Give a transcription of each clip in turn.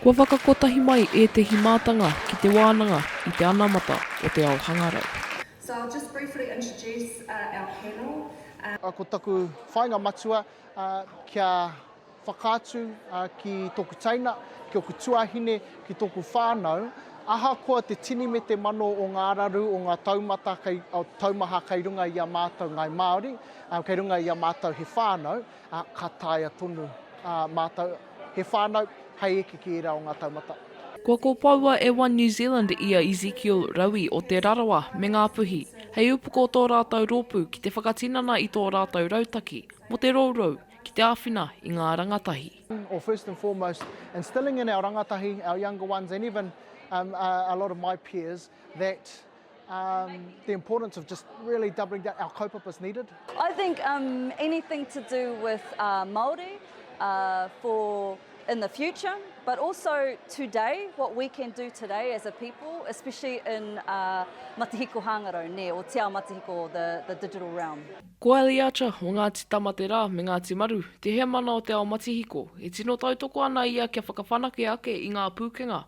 Kua whakakotahi mai ētehi mātanga ki te wānanga i te anamata o te ao hangarau. So I'll just briefly introduce our panel. Ko taku whainga matua kia whakaatu ki toku teina, ki oku tuahine, ki toku whanau, ahakoa te tini me te mano o nga araru, o nga taumata, taumaha kei runga i a matou ngai Maori, kei runga i a matou he whanau. Ka taea tonu mātou he whānau hei eke ki ērā o ngā taumata. Kua kopoua e One New Zealand i a Ezekiel Raui o Te Rarawa me Ngā Puhi hei upoko tō rātou rōpū ki te whakatinana i tō rātou rautaki mō te rourou ki te āwhina i ngā rangatahi. Or first and foremost instilling in our rangatahi, our younger ones and even a lot of my peers that. Um, the importance of just really doubling down, our kaupapa is needed. I think um, anything to do with uh, Māori uh, for in the future, but also today, what we can do today as a people, especially in uh, Matihiko Hāngarau, ne, or Te Ao Matihiko, the, the digital realm. Ko Ellie Archer o Ngāti Tamaterā me Ngāti Maru te heamana o Te Ao Matihiko, e tino tautoko ana ia kia whakawhanake ake i ngā pūkenga.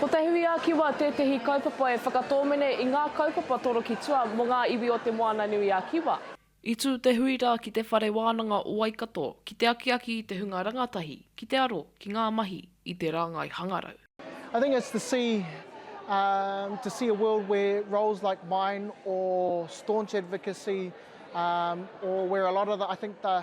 Ko Te Hui-a-Kiwa tētehi kaupapa e whakatōmene i ngā kaupapa torokitua mō ngā iwi o Te Moananui-a-Kiwa. I tū te hui rā ki Te Whare Wānanga o Waikato ki te akiaki i te hunga rangatahi ki te aro ki ngā mahi i te rāngai hangarau. I think it's to see um to see a world where roles like mine or staunch advocacy um or where a lot of the I think the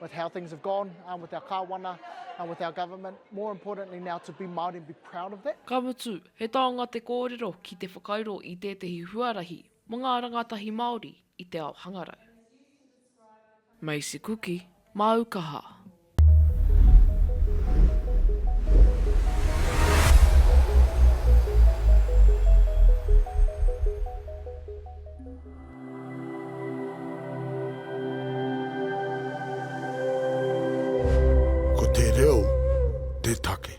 with how things have gone um, with our kāwana, um, with our government, more importantly now to be Māori and be proud of that. Ka mutu, he taonga te kōrero ki te whakairo i tētehi huarahi mō ngā rangatahi Māori i te ao hangarau. Macy Kuki, Māu Kaha. Ko te reo te take.